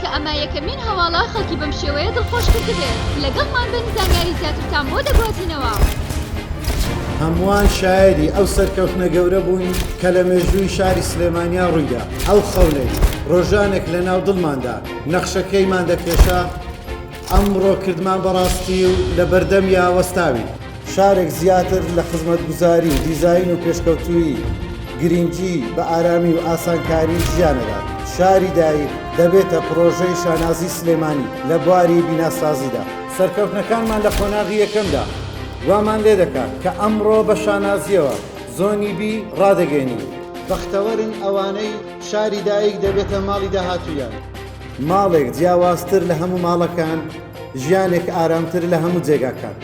کە ئەمە یەکەمین هەواڵە خەڵکی بەم شێوەیە دڵخۆش کردبێت لەگەڵمان بن زانیاری زیاترتان بۆ دەگوازینەوە. هەمووان شایەدی ئەو سەرکەوتنە گەورە بووین کە لە مێژووی شاری سلێمانیا ڕوویدا ئەو خەونەی ڕۆژانێک لەناو دڵماندا نەخشەکەیمان دەکێشا، ئەمڕۆ کردمان بەڕاستی و لە بەردەمیا وەستاوین. شارێک زیاتر لە خزمەتگوزاری و دیزاین و پێشکەوتوویی، گرینگی بە ئارامی و ئاسانکاری ژیان ئەدات. شاری دایک دەبێتە پڕۆژەی شانازی سلێمانی لە بواری بیناسازیدا. سەرکەوتنەکانمان لە قۆناغی یەکەمدا وامان لێ دەکات کە ئەمڕۆ بە شانازییەوە زۆنی بی ڕادەگەینین. بەختەوەرن ئەوانەی شاری دایک دەبێتە ماڵی داهاتوویان. ماڵێک جیاوازتر لە هەموو ماڵەکان، ژیانێک ئارامتر لە هەموو جێگاکان.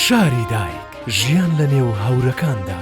شاری دایک، ژیان لە نێو هەورەکاندا.